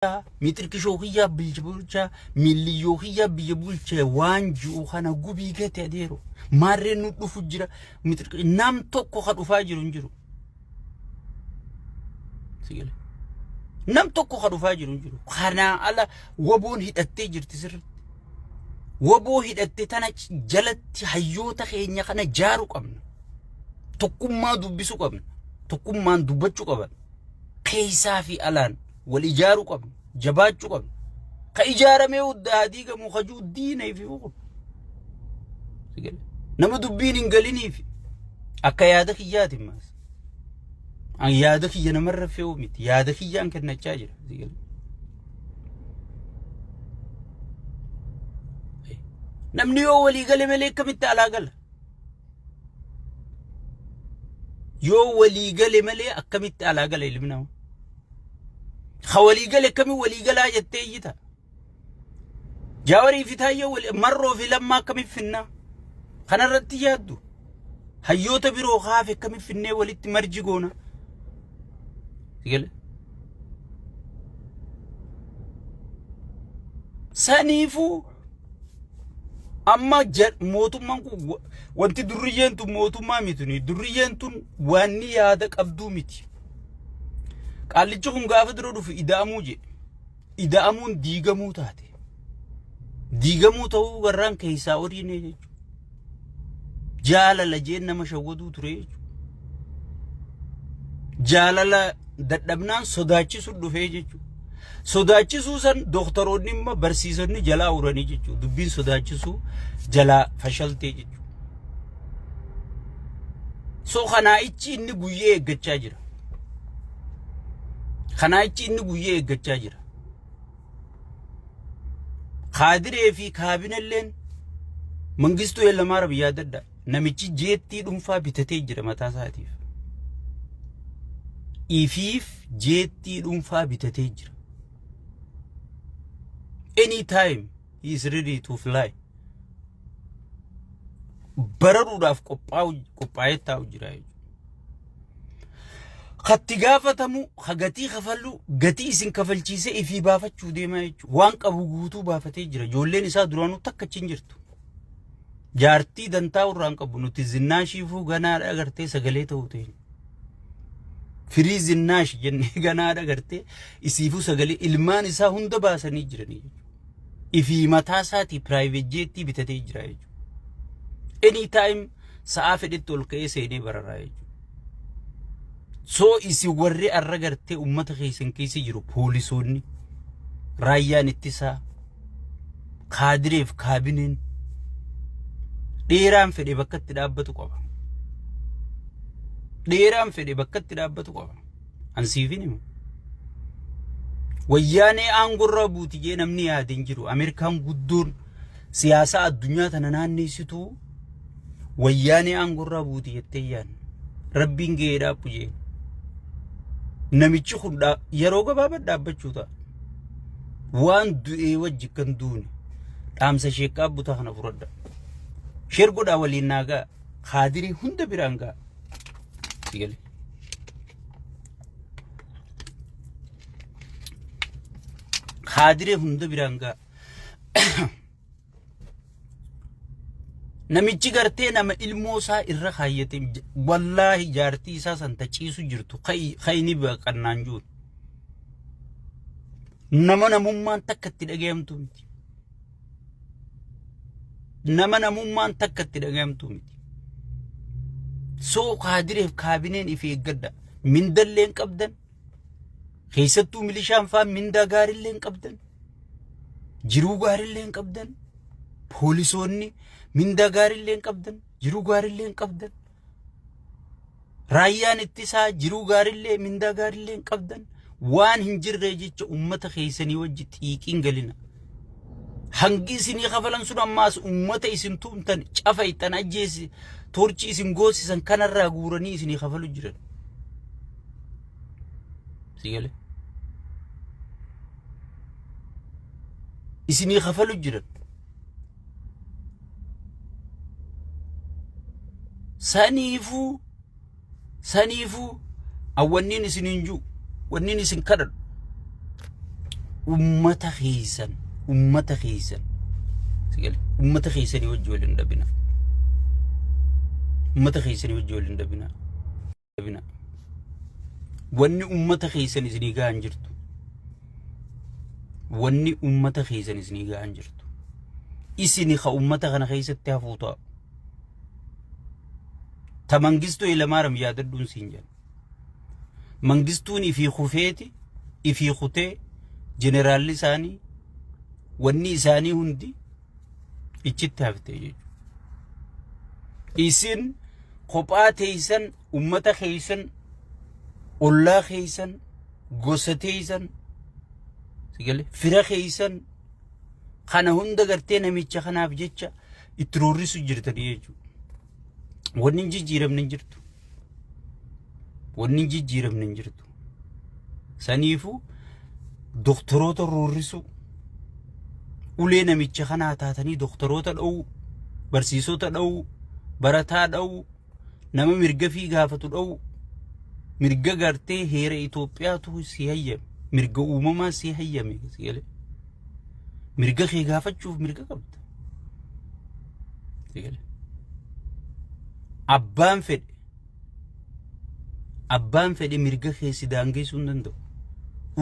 kiyyaa miixirkishoo kiyyaa biyya bulchaa miilliyyoo kiyyaa biyya bulchee waan ji'u kana gubii gate adeero maarreen nu dhufu jira miixirki nam tokko ka dhufaa jiru hin jiru. Sigale. Nam tokko ka dhufaa jiru hin jiru. Kanaa ala waboon hidhattee jirti sirriitti. Waboo hidhatte tana jalatti hayyoota keenya kana jaaru qabna. Tokkummaa dubbisuu qabna. Tokkummaan dubbachuu qaban. Keessaa fi alaan. Wal ijaaruu qabna. Jabaachuu qabna. Ka ijaaramee hudda haa diigamu ka jiru diina ifi fuqu. Nama dubbiin hin galiniif akka yaada kiyyaatiin maas. An yaada kiyya namarra fe'uu miti. Yaada kiyyaan kennachaa jira. Namni yoo walii gale malee akkamitti alaa gala? Yoo walii gale malee akkamitti alaa gala ilmi namaa? Ka walii gale akkamiin walii galaa jettee iyyita. Jaawarii fi Taayyee wal- marroo fi lammaa akkamiin finnaa? Kanarratti yaaddu. Hayyoota biroo kaafe akkamiin finnee walitti marji goona? Sigale. Saniifuu amma ja- mootummaan kun wa- wanti durriyyeen tun mootummaa miti. Durriyyeen tun waan ni yaada qabduu miti. Qaallichi kun gaafa dura dhufu ida'amuu jedhe. Ida'amuun diigamuu taate. Diigamuu ta'uu garraan keessaa odiinee jechuudha. Jaalala jeen nama shawwaduu ture jechuudha. Jaalala dadhabnaan sodaachisuun dhufee jechuudha. Sodaachisuu san dooktaroonni immoo barsiisonni jalaa uranii jechuudha. Dubbiin sodaachisuu jalaa fashaltee jechuudha. So kanaa'ichi inni guyyee eeggachaa jira. Kanaa'ichi inni guyyee eeggachaa jira. Kaadiree fi kaabinelleen Mangistuu Hayilamaariyaam yaadadha. Namichi jeettii dhuunfaa bitatee jira mataa isaatiif. Ifiif jeettii dhuunfaa bitatee jira. Anytime he is ready to fly. bararuudhaaf qophaa'ee taa'u jira jechuudha. Katti gaafatamu ka gatii kafallu gatii isin kafalchiisee ifii baafachuu deemaa jechuudha. Waan qabu guutuu baafatee jira. Ijoolleen isaa duraanuu takka achi hin jirtu. Jaartii dantaa irraa hin qabu nuti zinnaa shiifuu ganaa agartee sagalee ta'uu ta'e. Firii zinnaash jennee ganaa dhagartee isiifuu sagalee ilmaan isaa hunda baasanii jiranii jechuudha. Ifii mataa isaatii piraayiveet jeettii bitatee jira jechuudha. Any time sa'aa fedhetti ol ka'ee seenee bararaa jechuudha. Soo isin warri arra gartee uummata keessan keessa jiru poolisoonni raayyaan ittisaa kaadireef kaabineen dheeraan fedhe bakka itti dhaabbatu qaba. Dheeraan fedhe bakka itti dhaabbatu qaba. Ansiifin hima. Wayyaanee aangorraa buuti jee namni yaade hin jiru. Ameerikaan guddoon siyaasaa addunyaa tana naanneessituu wayyaanee aangorraa buuti jettee yaadne rabbiin gahee dhaabbu jeen namichi kun dhaa- yeroo gabaabaa dhaabbachuu ta'a waan du'ee wajji kan duune dhaamsa sheekaa butaa kana fudhadha sheer godhaa waliin naa ga'a kaadirii hunda biraan ga'a Si galee. kaadirii hunda biraan ga'a Namichi gartee nama ilmoo isaa irra kaayyate wallaahi jaartii isaa san taciisu jirtu kayni baqannaan jiru. Nama namummaan takka itti dhagayamtu miti. Nama namummaan takka itti dhagayamtu miti. Soo kaadireef kaabineen ifi eeggadha. Mindalleen qabdan Keessattuu milishaan faan mindaa gaarillee hin qabdan. Jiruu gaarillee hin qabdan. Poolisoonni mindaa gaarillee hin qabdan. Jiruu gaarillee hin qabdan. Raayyaan ittisaa jiruu gaarillee mindaa gaarillee hin qabdan. Waan hin jirree jecha uummata keessanii wajji xiiqiin galina. Hangi isinii kafalan sun ammaas uummata isin tuumtan cafa ittan ajjeesi torchi isin goosisan kanarraa guuranii isinii kafalu jiran. sii galee isinii kafalu jiran saniifuu saniifuu awwanniin isin hin jiru wanniin isin kadhadhu ummata keessan ummata keessan sii galee ummata keessanii wajji wal hin dhabina ummata keessanii wajji wal hin dhabina deebina. Wanni ummata keessan isinii gahan jirtu. Wanni ummata keessan isinii gahan jirtu. Isini ka ummata kana keessatti hafuu ta'a. Ta mangistuu ilamaaram yaadadhuun siin jedha. Mangistuun ifii kufeeti ifii kutee jeneraalli isaanii wanni isaanii hundi Iccitti hafte jechuudha. Isin kophaa teessan ummata keessan ollaa keessan gosa teessan fira keessan kana hunda gartee namicha kanaaf jecha itti roorrisu jirtanii jechuudha. Wanni hin jijjiiramne hin jirtu. Wanni hin jijjiiramne hin jirtu. Saniifuu doktoroota roorrisuu, ulee namicha kanaa taatanii doktoroota dha'uu, barsiisota dha'uu, barataa dha'uu, nama mirga fi gaafatu dha'uu, mirga gartee heera Itoophiyaatu si hayyame, mirga uumamaa si hayyame si galee. Mirga kee gaafachuuf mirga qabda. Si galee. Abbaan fedhe Abbaan fedhe mirga kee si daangeessuu hin danda'u.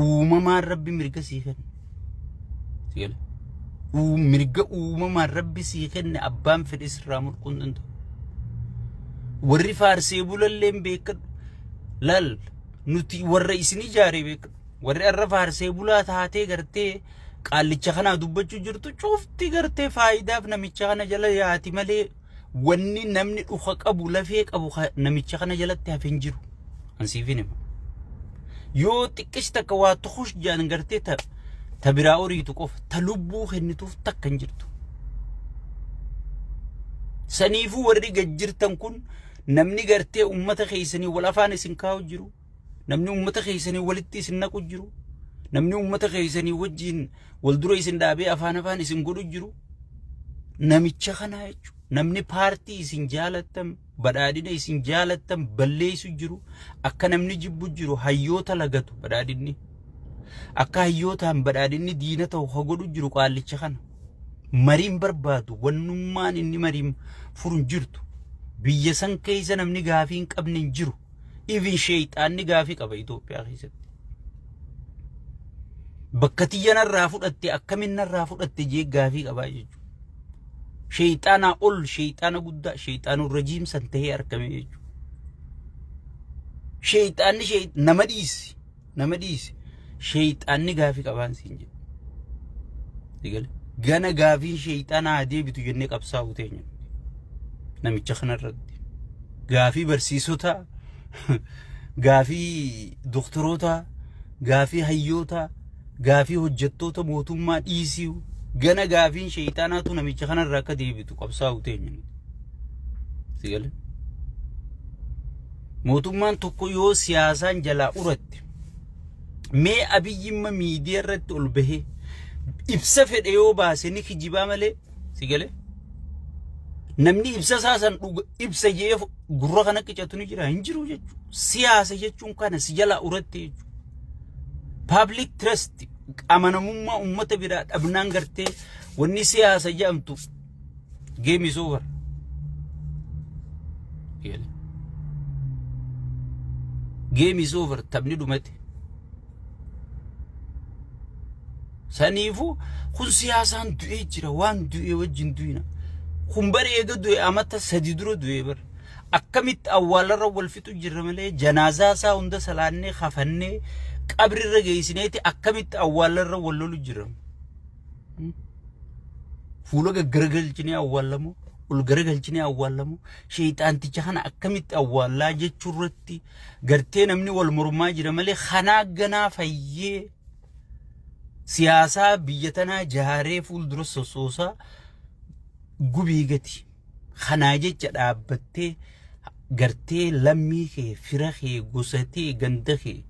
Uumamaan rabbi mirga sii kenna. Si gale? Uu- Mirga uumamaan rabbi sii kenne abbaan fedhe sirraa mulquu hin danda'u. Warri faarsee bulalleen beekadhu. Laal nuti warra isin ijaaree beekadhu. Warri har'a faarsee bulaa taatee gartee qaallicha kanaa dubbachuu jirtu cufti gartee faayidaaf namicha kana jala yaati malee Wanni namni dhuka qabu lafee qabu ka namicha kana jalatti hafe hin jiru. An siifin hima. Yoo xiqqeessi takka waa tukush jaan gartee ta ta biraa oriitu qofa ta lubbuu kennituuf takka hin jirtu. Saniifuu warri gad jirtan kun namni gartee ummata keessanii wal afaan isin kaa'u jiru. namni uummata keessanii walitti isin naqu jiru namni uummata keessanii wajjiin wal dura isin dhaabee afaan afaan isin godhu jiru namicha kana jechuudha. Namni paartii isin jaalattan badhaadhina isin jaalattan balleessu jiru akka namni jibbu jiru hayyoota lagatu badhaadhinni. Akka hayyootaan badhaadhinni diina ta'u ha godhu jiru qaallicha kana. Mariin barbaadu wannummaan inni mariin furu hin jirtu. Biyya san keessa namni gaafii hin qabne hin jiru. Even sheeyxaanni gaafii qaba Itoophiyaa keessatti. Bakka tiyya narraa fudhatte akkamiin narraa fudhatte jee gaafii qabaa jechuudha. Sheeyxaanaa ol sheeyxaana guddaa sheeyxaanuu rajiim san ta'ee argame jechuudha. Sheeyxaanni nama dhiisi. Nama dhiisi. Sheeyxaanni gaafii qabaan siin jedhu. Sigale. Gana gaafiin sheeyxaanaa haa deebitu jennee qabsaa'uu teenya. Namicha kanarratti. Gaafii barsiisotaa, gaafii doktorootaa, gaafii hayyootaa, gaafii hojjettoota mootummaa dhiisii gana gaafiin sheeyxaanaatu namicha kanarra akka deebitu qabsaa'uu teenya. Sigale. Mootummaan tokko yoo siyaasaan jalaa uratte mee abiyyimma miidiyaa irratti ol bahee ibsa fedhe yoo baase ni kijibaa malee si galee namni ibsa isaa san dhuga ibsa jee gurra kana qicatu ni jira hin jiru jechuudha. Siyaasa jechuun kana si jalaa uratte jechuudha. Public trust amanamummaa uummata biraa dhabnaan gartee wanni siyaasa jedhamtu Game is over. Yala. Game is over. Taphni dhumate. Saniifuu kun siyaasaan du'ee jira waan du'ee wajjin du'ina. Kun bara eega du'e amata sadi dura du'ee bara. Akkamitti awwaalarra wal fixu jirra malee janaazaa isaa hunda salaannee kafannee qabrirra geessineeti akkamitti awwaalarra wal lolu jirra. Fuula gaggaragalchinee awwaallamoo ol garagalchinee awwaallamoo sheexaanticha kana akkamitti awwaallaa jechuu irratti gartee namni wal mormaa jira malee kanaa ganaa fayyee siyaasaa biyya tanaa jaaree fuuldura sossoosaa gubii gati. Kanaa jecha dhaabbattee gartee lammii kee, fira kee, gosa tee, ganda kee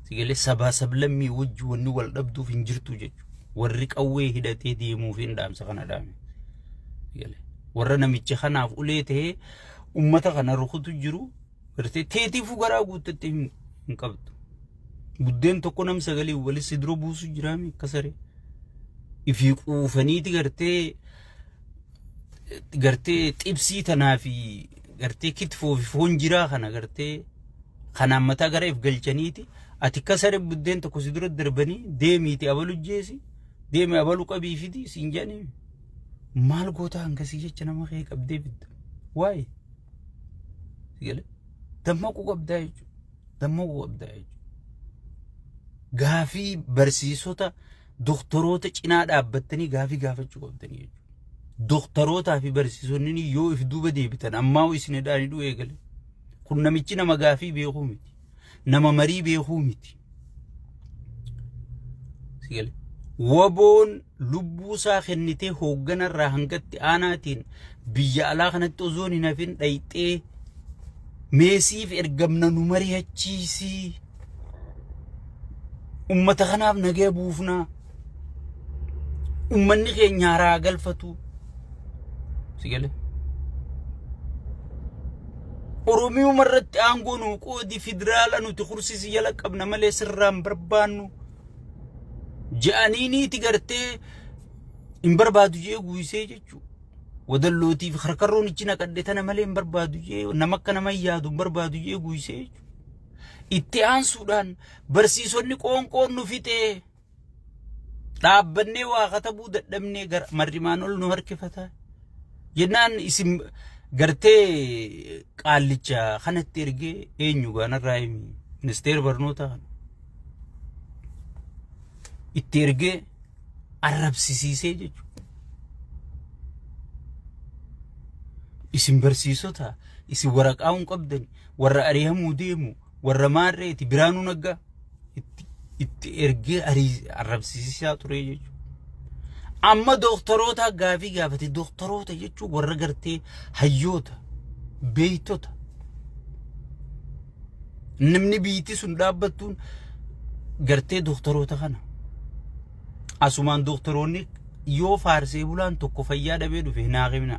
sigalee sabaa sablammii wajji wanni wal dhabduuf hin jirtu jechuudha. Warri qawwee hidhatee deemuuf hin dhaamsa kana dhaame. Sigalee warra namicha kanaaf ulee ta'ee uummata kana rukutu jiru gartee teetiifuu garaa guuttattee hin hin qabdu. Buddeen tokko nam sagalee walitti si dura buusu jiraame akka saree. Ifii quufaniiti gartee gartee xibsii tanaa fi gartee kitfoo fi foon jiraa kana gartee kanaan mataa gara if galchaniiti ati kasare buddeen tokko si dura darbanii deemiiti abalu jeesi deemi abalu qabii fidi siin jedhanii maal gootaa hangasii jecha nama kee qabdee bidda waa'ee sigale dammaquu qabdaa jechuudha dammaquu qabdaa jechuudha gaafii barsiisota doktoroota cinaa dhaabbattanii gaafii gaafachuu qabdanii jechuudha. Doktorootaa fi barsiisonni yoo if duuba deebitan ammaa hoo isin hidhaan hidhuu eegale. Kun namichi nama gaafii beekuu miti. Nama marii beekuu miti. Sigale. Waboon lubbuu isaa kennitee hoogganarraa hangatti aanaatiin biyya alaa kanatti osoon hin hafin dhayxee meesiif ergamna nu mari'achiisii. Ummata kanaaf nagaya buufnaa. Ummanni keenya haraa galfatu. Si galee? Oromiyuma irratti aangoo nuu qoodi federaala nuti kursisi jala qabna malee sirraan barbaannu. Ja'aniiniiti gartee hin barbaadu jee guuysee jechuu. Wadallootiif karkarroon ichi naqadhe tana malee hin barbaadu jee nama akka nama hin yaadu hin barbaadu jee guuysee jechuu. Itti aansuudhaan barsiisonni qoonqoon nu fixee dhaabbannee waa katabuu dadhabnee gara marrimaan ol nu harkifata. Jennaan isin gartee qaallicha kanatti ergee eenyu gaanarraa himi ministeera barnootaa kana. Itti ergee arrabsisiisee jechuudha. Isin barsiisota isin waraqaa hin qabdan warra ari'amuu deemu warra maarreeti biraanuu naggaa itti- itti ergee arii- arrabsiisaa ture jechuudha. Amma dooktaroota gaafii gaafate dooktaroota jechuun warra gartee hayyoota beektota namni biyyittii sun dhaabbattuun gartee dooktaroota kana Asumaan dooktaroonni yoo faarsee bulaan tokko fayyaa dhabee dhufe hin haaqimna.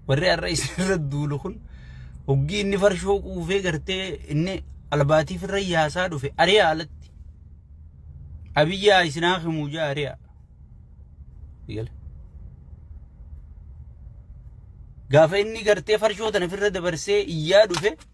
Warri har'a isinirra duulu kun hoggii inni farshoo quufee gartee inni albaatiif irra yaasaa dhufe ari'a alatti. Abiyyaa isin haaqimuu jaa ari'a. Eegale. Gaafa inni gartee farshoo tana ofirra dabarsee iyyaa dhufe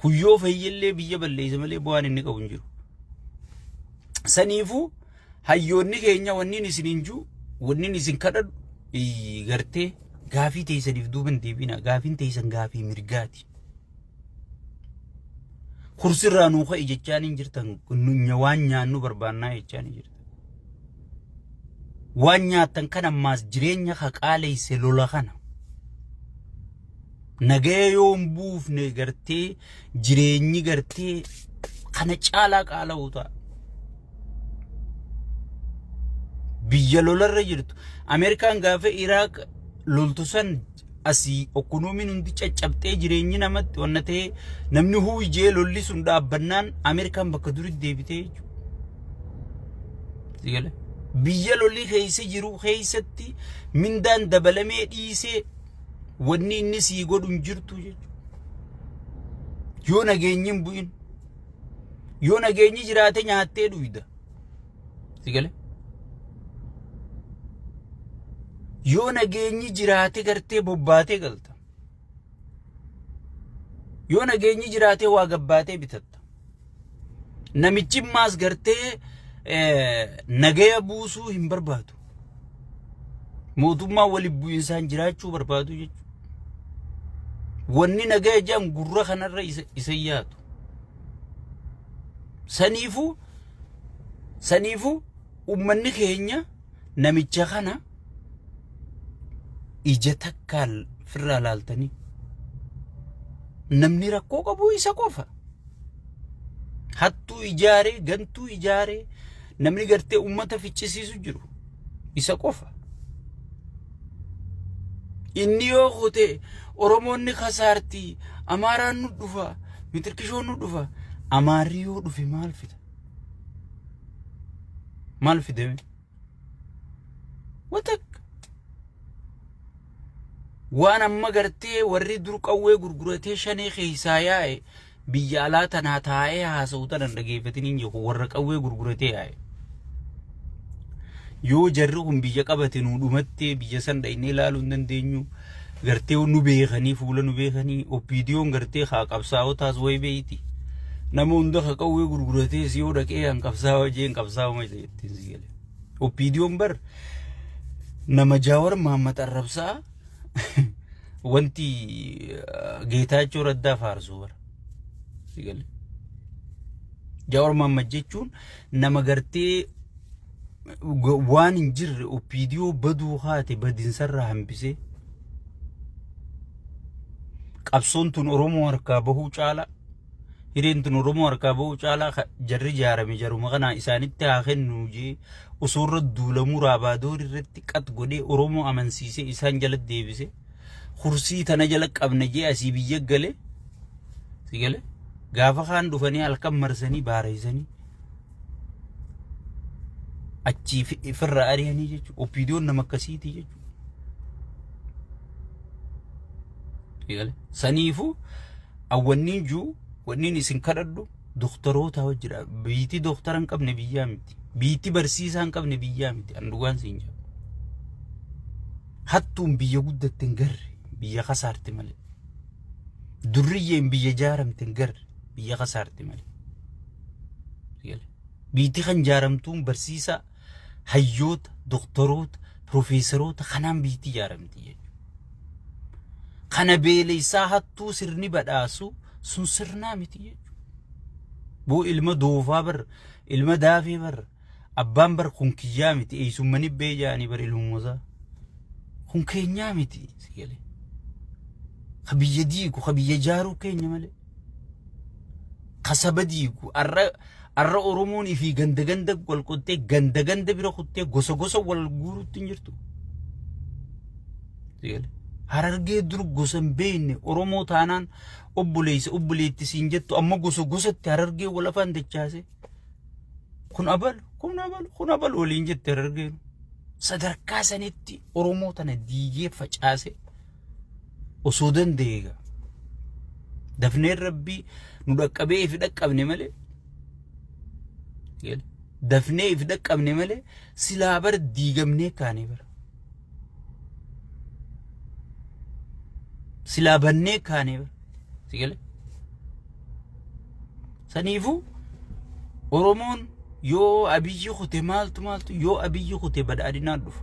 Kun yoo fayyellee biyya balleessa malee bu'aan inni qabu hin jiru. Saniifuu hayyoonni keenya wanniin isin hin jiru wanniin isin kadhadhu iyyi gartee gaafii teessaniif duuba hin deebiina gaafiin teessan gaafii mirgaati. Kursirraa nuu ka'i jechaan hin jirtan waan nyaannu barbaannaa jechaan hin jirtan. Waan nyaattan kan ammaas jireenya haqaaleesse lola kana. Nagaya yoo hin buufne gartee jireenyi gartee kana caalaa qaala'uu ta'a. Biyya lolarra jirtu. Ameerikaan gaafa Iraaq loltu san asii okkonoomiin hundi caccabxee jireenyi namatti wanna ta'e namni huuyi jee lolli sun dhaabbannaan Ameerikaan bakka duritti deebitee jechuudha. Biyya lolli keessa jiru keessatti mindaan dabalamee dhiisee wanni inni sii godhu hin jirtu jechuudha. Yoo nageenyi hin bu'in yoo nageenyi jiraate nyaattee dhuyda. Si gale? Yoo nageenyi jiraate gartee bobbaatee galta. Yoo nageenyi jiraate waa gabbaatee bitatta. Namichi maas gartee nagaya buusuu hin barbaadu. Mootummaa waliin bu'insaan jiraachuu barbaadu jechuudha. Wanni nagaya jedhan gurra kanarra isa yaadu. Saniifuu Saniifu ummanni keenya namicha kana ija takkaan firraa laaltanii namni rakkoo qabu isa qofa. Hattuu ijaaree, gantuu ijaaree namni gartee ummata ficcisiisu jiru. Isa qofa. Inni yoo kute Oromoon ni kasaarti, Amaaraan nu dhufa, Mitirkishoon nu dhufa. Amaarri yoo dhufe maal fida? Maal fide? Watak. Waan amma gartee warri dur qawwee gurguratee shanee keessaa yaa'e Biyya alaa tanaa taa'ee haasa'u tana hin dhageeffatiniin jee kun warra qawwee gurguratee yaa'e. Yoo jarri kun biyya qabate nuu dhumattee biyya san dhaynee ilaaluu hin dandeenyu. Gartee nu beekanii fuula nu beekanii oppiidiyoon gartee haa qabsaa'otaas wayi beeyti. Nama hunda ka qawwee gurguratees yoo dhaqee an qabsaa'oo jeen qabsaa'uma jeettiin si galee. Oppiidiyoon bar nama jaawar maammat arrabsaa wanti geetaachoo raddaa faarsuu bara. Sigale. Jawaar Mohaammed jechuun nama gartee waan hin jirre opiidiyoo baduu haate badinsarraa hambisee qabsoon tun Oromoo harkaa bahuu caalaa Hireen tun Oromoo harkaa ba'uu caalaa ka- jarri ijaarame jaruma kanaa isaanitti haa kennuu jee osoo irra duulamuu raabaadoor irratti qat godhee Oromoo amansiisee isaan jala deebise kursii tana jala qabna jee asii biyya gale si gale gaafa kaan dhufanii halkan marsanii baareessanii achii fi- firra ari'anii jechuudha. Opiidiyoon nama akkasiiti jechuudha. Eegale. Saniifuu An wanniin juu wanniin isin kadhadhu doktorootaa wajji dha. Biitii doktara hin qabne biyyaa miti. Biitii barsiisaa hin qabne biyyaa miti. An dhugaan siin jedha. Hattuun biyya guddatte hin garre biyya kasaarti malee. Durriyyeen biyya jaaramte hin garre biyya kasaarti malee. Biitii kan jaaramtuun barsiisaa hayyoota, doktoroota, pirofeesaroota kanaan biyyatti ijaaramti jechuudha. Kana beelessaa hattuu sirni badhaasu sun sirnaa miti jechuudha. Boo ilma doofaa bar ilma daafee bar abbaan bar kun kiyyaa miti eessummani bee jaanii bar ilmuusaa. Kun keenyaa miti si galee. Ka biyya diigu ka biyya jaaruu keenya malee. ka saba diigu arra arra oromoon ifii ganda ganda wal qottee ganda ganda bira kuttee gosa gosa wal guurutti hin jirtu Sigalee. harargee dur gosa hin beekne oromoo taanaan obboleessa obboleetti siin jettu amma gosa gosatti harargee wal afaan dachaase kun abalu kun abalu kun abalu waliin jette harargeen sadarkaa sanitti oromoo tana diigee facaase osoo danda'e egaa dafneen rabbii nu dhaqqabee ifi dhaqqabne malee Gale. dafnee ifi dhaqqabne malee silaa bar diigamnee kaanee bara silaa bannee kaanee bara si gale saniifuu oromoon yoo abiyyi kute maaltu maaltu yoo abiyyi kute badhaadhinaan dhufa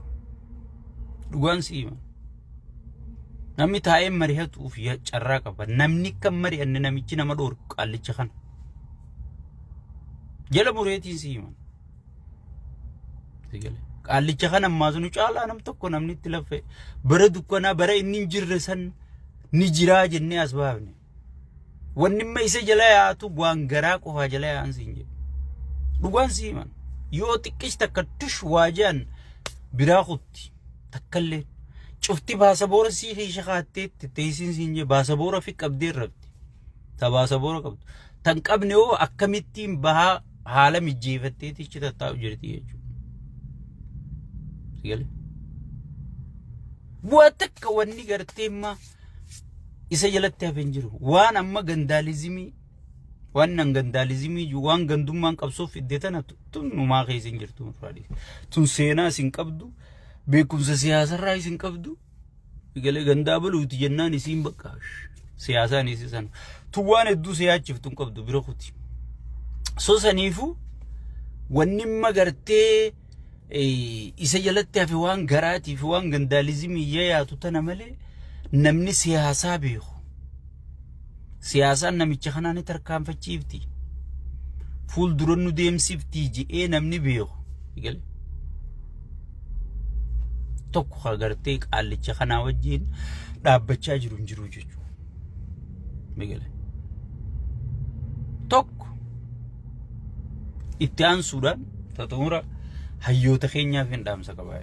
dhugaan si hima Namni taa'ee mari'atuuf ya- carraa qaba. Namni kan mari'anne namichi nama dhoorku qaallicha kana. Jala mureetiin si himan. Sigale. Qaallicha kana ammaa sunu caalaa nam tokko namni itti laffe bara dukkanaa bara inni hin jirre san ni jiraa jennee as baafne. Wanni amma isa jala yaatu waan garaa qofaa jala yaa'an siin jedhu. Dhugaan sii himan. Yoo xiqqees takka tush waa jedhan biraa kutti takkallee. Cufti baasaboora sii keessa kaatteetti teessiin siin jedhu baasaboora fi qabdee irratti. Ta baasaboora qabdu. Tan qabne hoo akkamittiin bahaa haala mijjeefatteetti ichi tattaa'u jirti jechuudha. Galee. Bu'aa takka wanni gartee immaa. isa jalatti hafe hin jiru. Waan amma gandaalizimii waan nan gandaalizimii jiru waan gandummaan qabsoo fidde tana tu- tun numaa keessa hin jirtu nurraa dhiisa. Tun seenaa isin qabdu beekumsa siyaasarraa isin qabdu galee gandaa baluuti jennaan isiin bakka siyaasaan isi sana. Tun waan hedduu siyaachiftu hin qabdu bira kuti. So saniifuu wanni magartee eh, isa jalatti hafe waan garaatii fi waan gandaalizimii yayaatu tana malee namni siyaasaa beeku. Siyaasaan namicha kanaa ni tarkaanfachiifti. Fuuldura nu deemsifti je'ee namni beeku. Eegale. Tokko ka gartee qaallicha kanaa wajjin dhaabbachaa jiru hin jiru jechuudha. Eegale. Tokko Itti aansuudhaan xumura hayyoota keenyaaf hin dhaamsa qabaa.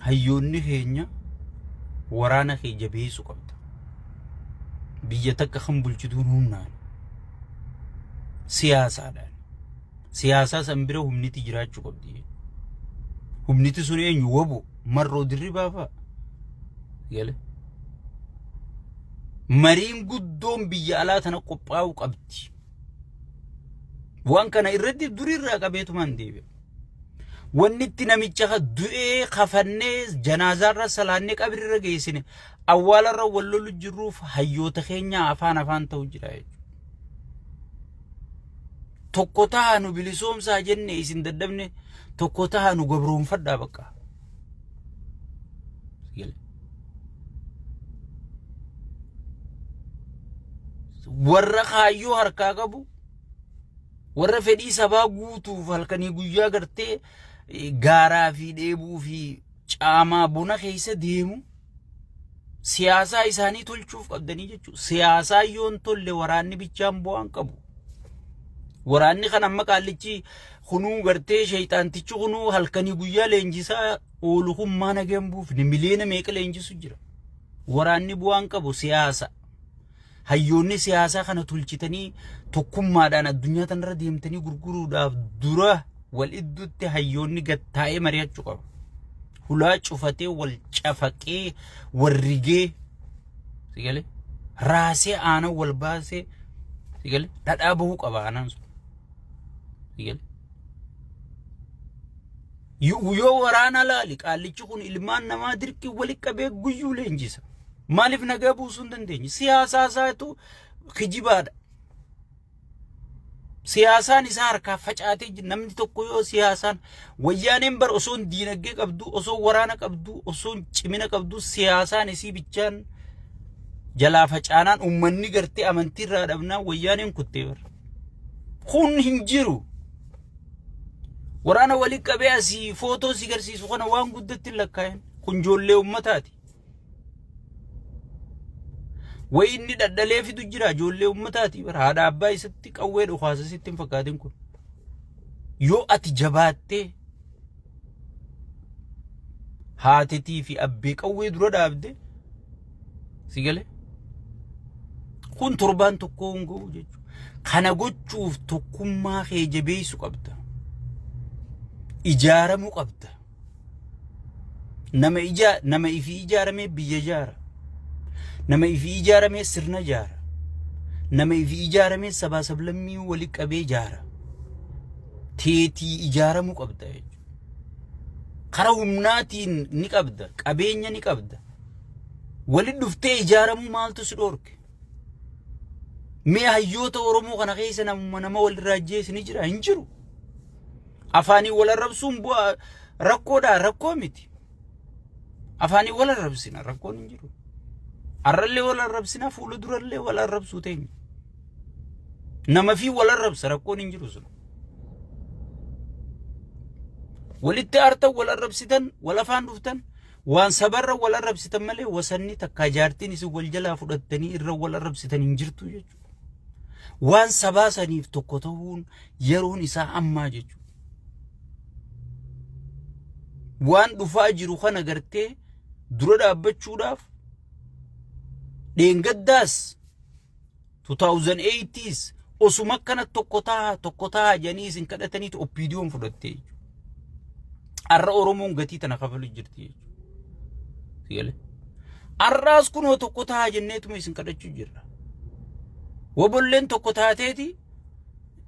Hayyoonni keenya waraana kee jabeessu qabda. Biyya takka kan bulchituun humnaan siyaasaadhaan siyaasaa san bira humniti jiraachuu qabdi. Humniti sun eenyu wabu marroo dirribaa fa'a. Galee. mariin guddoon biyya alaa tana qophaa'uu qabdi. Waan kana irratti durirraa qabeetumaan deebi'a. Wanni itti namicha ka du'ee kafannee janaazaarra salaannee qabrirra geessine awwaalarra wal lolu jirruuf hayyoota keenya afaan afaan ta'u jira jechuudha. Tokko taha nu bilisoomsaa jenne isin dadhabne tokko taha nu gabroonfadhaa bakka. warra kaayyoo harkaa qabu warra fedhii sabaa guutuuf halkanii guyyaa gartee gaaraa fi dheebuu fi caamaa bona keessa deemu siyaasaa isaanii tolchuuf qabdanii jechuudha. Siyaasaa yoon tolle waraanni bichaan bu'aan qabu. Waraanni kan amma qaallichi kunuu gartee sheeyxaantichi kunuu halkanii guyyaa leenjisaa oolu kun maa nageen buufne miliyoona meeqa leenjisu jira. Waraanni bu'aan qabu siyaasa. Hayyoonni siyaasaa kana tolchitanii tokkummaadhaan addunyaa tanarra deemtanii gurguruudhaaf dura wal idduutti hayyoonni gad taa'ee mari'achuu qabu. Hulaa cufatee wal cafaqee wal rigee si galee raasee aanan wal baasee si galee dhadhaa bahuu qaba aanan sun. Si galee. Yoo yoo waraana laali qaallichi kun ilmaan namaa dirqii walitti qabee guyyuu leenjisa. Maaliif nagaa buusuu hin dandeenye? Siyaasaa isaatu kijibaadha. Siyaasaan isaa harkaa facaatee jira. Namni tokko yoo siyaasaan wayyaaneen bar osoo hin diinagdee qabdu, osoo waraana qabdu, osoo hin cimina qabdu siyaasaan isii bichaan jalaa facaanaan uummanni gartee amantii irraa dhabnaan wayyaaneen kuttee bar. Kun hin jiru. Waraana walii qabee asii footoo si garsiisu kana waan guddatti hin lakkaa'in. Kun ijoollee uummataati. Wayi inni dhadhalee fidu jira ijoollee uummataati bara haadha abbaa isatti qawwee dhukaasa sitti hin fakkaatin kun. Yoo ati jabaattee haatetii fi abbee qawwee dura dhaabde si galee kun torbaan tokkoo hin ga'u jechuudha. Kana gochuuf tokkummaa kee jabeessu qabda. Ijaaramuu qabda. Nama ijaa nama ifii ijaaramee biyya ijaara. Nama ifii ijaaramee sirna ijaara. Nama ifii ijaaramee sabaa sablammii wali qabee ijaara. Teetii ijaaramuu qabda jechuudha. Kara humnaatiin ni qabda, qabeenya ni qabda. Wali dhuftee ijaaramuu maaltu si dhoorke? Mee hayyoota Oromoo kana keessa namuma nama walirraa ajjeese ni jira hin jiru. Afaanii wal arrabsuun bu'aa rakkoodha rakkoo miti. Afaanii wal arrabsina rakkoon hin jiru. Arrallee wal arrabsina fuula durallee wal arrabsuu teenya. Nama fi wal arrabsa rakkoon hin jiru sun. Walitti aartan wal arrabsitan wal afaan dhuftan Waan sabarra wal arrabsitan malee wasanni takkaa jaartiin isin wal jalaa fudhattanii irra wal arrabsitan hin jirtu jechuudha. Waan sabaa saniif tokko ta'uun yeroon isaa ammaa jechuudha. Waan dhufaa jiru kana gartee dura dhaabbachuudhaaf dheengaddaas 2008 tis osuma akkana tokko taha tokko taha jedhanii isin kadhataniitu oppiidiyoon fudhatte jechuudha. Har'a Oromoon gatii tana kafalu jirti jechuudha. Har'aas kunoo tokko taha jenneetuma isin kadhachuu jirra. Wabolleen tokko taateeti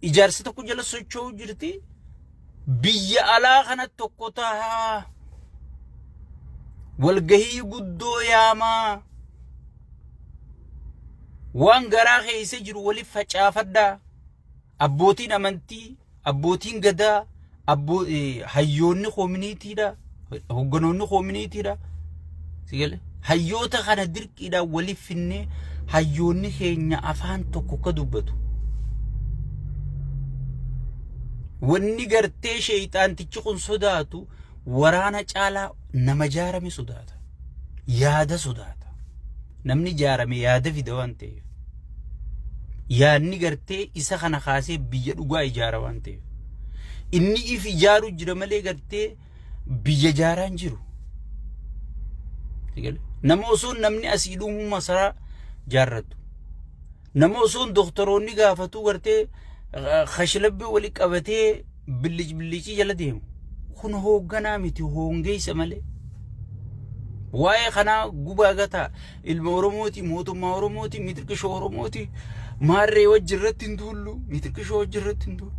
ijaarsa tokko jala socho'uu jirti. Biyya alaa kana tokko tahaa walgahii guddoo yaamaa waan garaa keessa jiru waliif facaafadhaa abbootiin amantii abbootiin gadaa abboo hayyoonni koominiitiidha Hogganoonni koominiitiidha. Sigale. Hayyoota kana dirqiidhaan waliif finnee hayyoonni keenya afaan tokko akka dubbatu. Wanni gartee sheeyxaantichi kun sodaatu waraana caalaa nama jaarame sodaata. Yaada sodaata. Namni jaarame yaada fida waan ta'eef. Yaadni gartee isa kana kaasee biyya dhugaa ijaara waan ta'eef. Inni if ijaaru jira malee gartee biyya jaaraa hin jiru. Nama osoo namni asii dhumuu masaraa jaarratu. Nama osoo doktoroonni gaafatuu gartee kashlabbii wali qabatee billic billicii jala deemu. Kun hoogganaa miti hoongeessa malee. Waa'ee kanaa gubaa gataa. Ilma Oromooti, mootummaa Oromooti, mitirqishoo Oromooti. Maarree wajji irratti hin duullu, mitirqishoo wajji irratti hin duullu.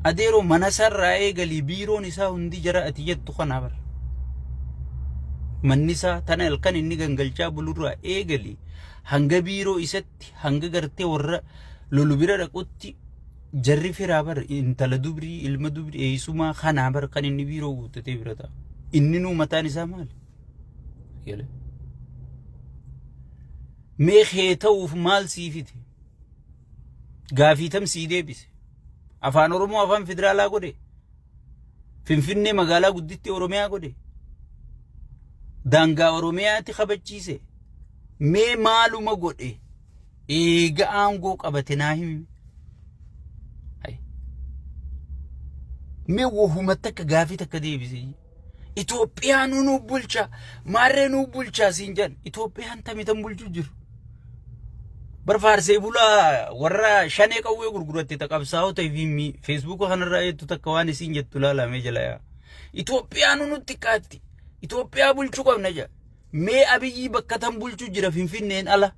Adeeroo mana isaarraa eegalii biiroon isaa hundi jara ati jettu kana bara. Manni isaa tana halkan inni gangalchaa bulurraa eegalii hanga biiroo isatti hanga gartee warra lolu bira dhaqutti jarri firaa bara intala dubrii ilma dubrii eessumaa kanaa bara kan inni biiroo guuttatee bira ta'a. Inni nuu mataan isaa maali? Yele. Mee kee ta'uuf maal sii fide? Gaafii tam sii deebise? Afaan Oromoo afaan federaalaa godhe? Finfinnee magaalaa gudditti Oromiyaa godhe? Daangaa Oromiyaatti kabachiise? Mee maaluma godhe? Eega aangoo qabate naa himi. Mee wahuma takka gaafii takka deebise. Itoophiyaa nu nuuf bulchaa maarree nuuf bulchaa siin jedhan Itoophiyaan tamitan bulchuu jiru. Barfaarsee bulaa warra shanee qawwee gurguratte taqabsaa'oo ta'e fi feesbuuka kanarraa jettu takka waan isiin jettu laalamee jala yaa. Itoophiyaa nu nutti kaatti. Itoophiyaa bulchuu qabna jedha. Mee Abiyyii bakka tan bulchu jira Finfinneen ala.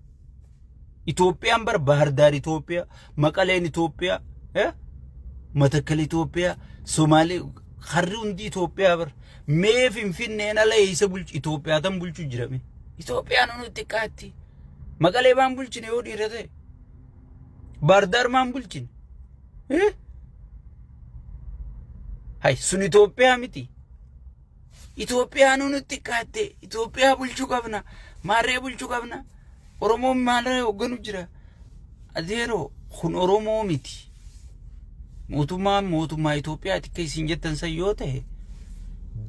Itoophiyaan bar Bahardaar Itoophiyaa, Maqaleen Itoophiyaa, eh? Matakkal Itoophiyaa, Somaalee harri hundi Itoophiyaa bar. Mee Finfinneen ala eessa bulchu Itoophiyaa tan bulchu jira mee. Itoophiyaan hunu xiqqaatti. Maqalee maan bulchine yoo dhiira ta'e. Bahardaar maan bulchine. Eh? Hay sun Itoophiyaa miti. Itoophiyaanuu nutti xiqqaatte Itoophiyaa bulchuu qabna maarree bulchuu qabna Oromoon maalirra hoogganu jira adeeroo kun Oromoo miti mootummaan mootummaa Itoophiyaati akka isin jettan san yoo ta'e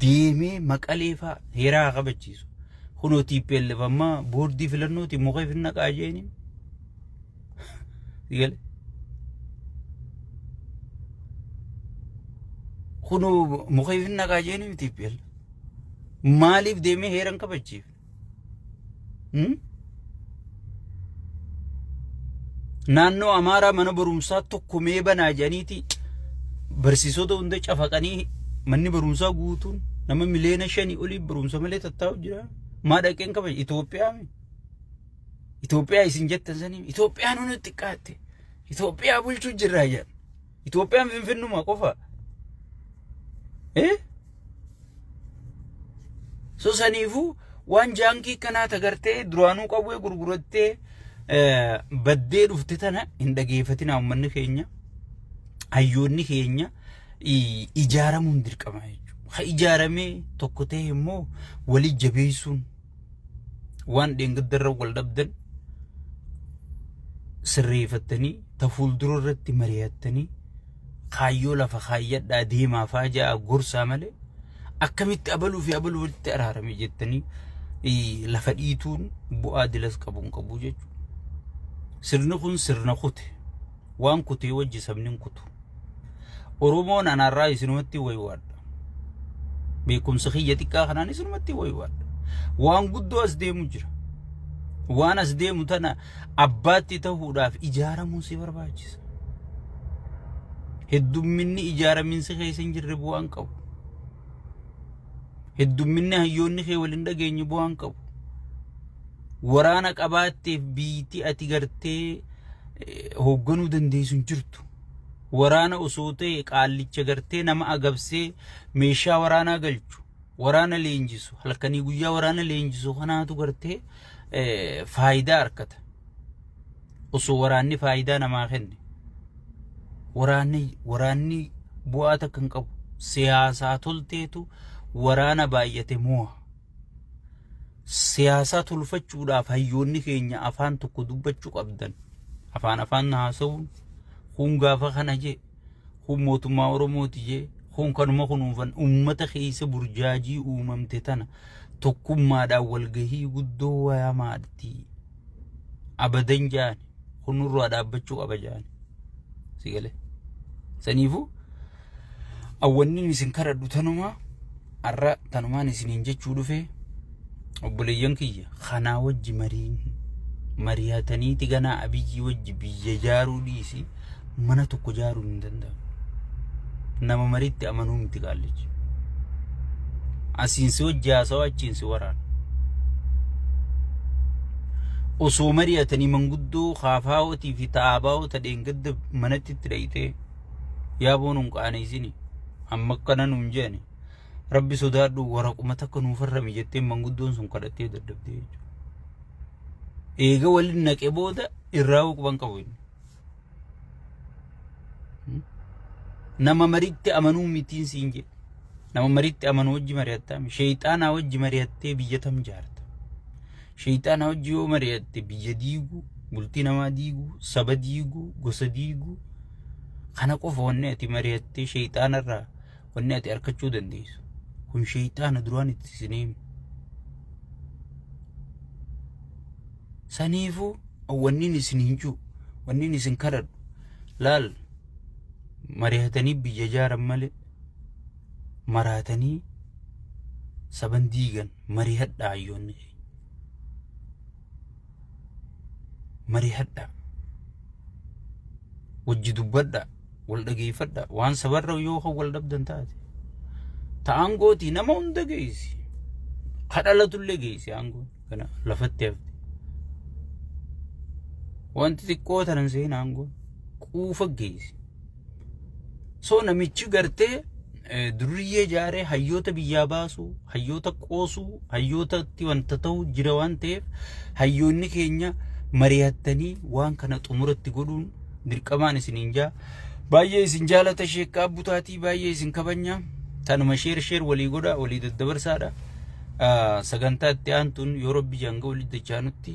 deemee maqalee faa heeraa haa kabachiisu kunoo TPLF ammaa boordii filannooti mukeef hin naqaa jeeniin Sigale. Kun mukeef hin naqaa jeeni miti PL. Maaliif deemee heeran kabachiif? Hmm? Naannoo Amaaraa mana barumsaa tokko mee banaa jedhaniiti barsiisota hunda cafaqanii manni barumsaa guutuun nama miliyoona shanii olii barumsa malee tattaa'u jira. Maa dhaqeen kabaja Itoophiyaa mi? Itoophiyaa isin jettan sanii Itoophiyaan hunu xiqqaatte. Itoophiyaa bulchuu jirraa jedhan. Itoophiyaan finfinnuma qofa. Eh? So saniifuu waan jaankii kanaa tagartee duraanuu qawwee gurgurattee eh, baddee dhufte tana hin dhageeffatinaa uummanni keenya. Hayyoonni keenya i- ijaaramuun dirqama jechuudha. Ha ijaaramee tokko ta'e immoo wali jabeessuun waan dheengaddarra wal dhabdan sirreeffattanii ta fuuldura irratti mari'attanii kaayyoo lafa kaayyadhaa deemaa faa ja'a gorsaa malee akkamitti abaluu fi abaluu walitti araarame jettanii lafa dhiituun bu'aa dilas qabu hin qabu jechuudha. Sirni kun sirna kute. Waan kutee wajji sabni hin kutu. Oromoon anaarraa isinumatti waywaadha. Beekumsa kiyya xiqqaa kanaan isinumatti waywaadha. Waan guddoo as deemu jira. Waan as deemu tana abbaatti ta'uudhaaf ijaaramuun si barbaachisa. Heddumminni ijaaraminsi keessa hin jirre bu'aan qabu. Heddumminni hayyoonni kee waliin dhageenye bu'aan qabu. Waraana qabaatteef biyyittii ati gartee hoogganuu dandeessu hin jirtu. Waraana osoo ta'e qaallicha gartee nama agabsee meeshaa waraanaa galchu. Waraana leenjisu halkanii guyyaa waraana leenjisu kanaatu gartee faayidaa argata. osoo waraanni faayidaa namaa kenne waraanni waraanni bu'aa takka hin qabu siyaasaa tolteetu waraana baay'ate mo'a siyaasaa tolfachuudhaaf hayyoonni keenya afaan tokko dubbachuu qabdan afaan afaan haasa'uun kun gaafa kana jedhe kun mootummaa Oromooti jee kun kanuma kunuunfan uummata keessa burjaajii uumamte tana tokkummaadhaan walgahii guddoo waamaatti abadan jaan kun nurraa dhaabbachuu qaba jaan si galee saniifuu awwanni isin kadhadhu tanumaa Har'a tanumaan isiniin jechuu dhufe obboleeyyan kiyya kanaa wajji mariin mari'ataniiti ganaa abiyyii wajji biyya jaaruu dhiisi mana tokko jaaruu hin danda'amu. Nama mariitti amanuu miti qaallichi. Asiin si wajji haasawaa achiin si waraana. Osoo mari'atanii manguddoo kaafaawwatii fi ta'aabaawota dheengadda manatti itti dhayxee yaa boo nun qaaneessini amma akkana nun jeeni rabbi sodaadhu waraquma takka nuuf harrami jettee manguddoon sun kadhattee dadhabdee jechuudha. Eega waliin naqe booda irraa huquban qabu inni. Nama maritti amanuu mitiin siin jedhe. Nama mariitti amanu wajji mari'attaami. Sheeyxaanaa wajji mari'attee biyya tam jaarta. Sheeyxaanaa wajji yoo mari'atte biyya diiguu, bultii namaa diiguu, saba diiguu, gosa diiguu. Kana qofa wanni ati mari'attee sheeyxaanarraa wanni ati arkachuu dandeessu. Kun sheeyxaana duraan itti sineemi. Saniifuu wanniin isin hin jiru, wanniin isin kadhadhu. Laal mari'atanii biyya jaaran malee. maraatanii saban diigan marihadhaa hayyoonni keenya. Marihadhaa. Wajji dubbadhaa. Wal dhageeffadhaa. Waan sabarra yoo kan wal dhabdan taate. Ta aangootii nama hunda geessi. Ka dhalatullee geessi aangoon. Kana lafatti hafte. Wanti xiqqoo tanan seenaa aangoon. Quufa geessi. So namichi gartee durriyyee jaaree hayyoota biyyaa baasuu, hayyoota qoosuu, hayyootatti wanta ta'u jira waan ta'eef hayyoonni keenya mari'attanii waan kana xumuratti godhuun dirqamaan isiniin jaa. Baay'ee isin jaalata sheekkaa butaatii baay'ee isin kabanya. Tanuma sheer sheer walii godha walii daddabarsaadha. Sagantaa itti aantuun yoo rabbi janga walitti dachaanutti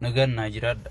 nagaan naa jiraadha.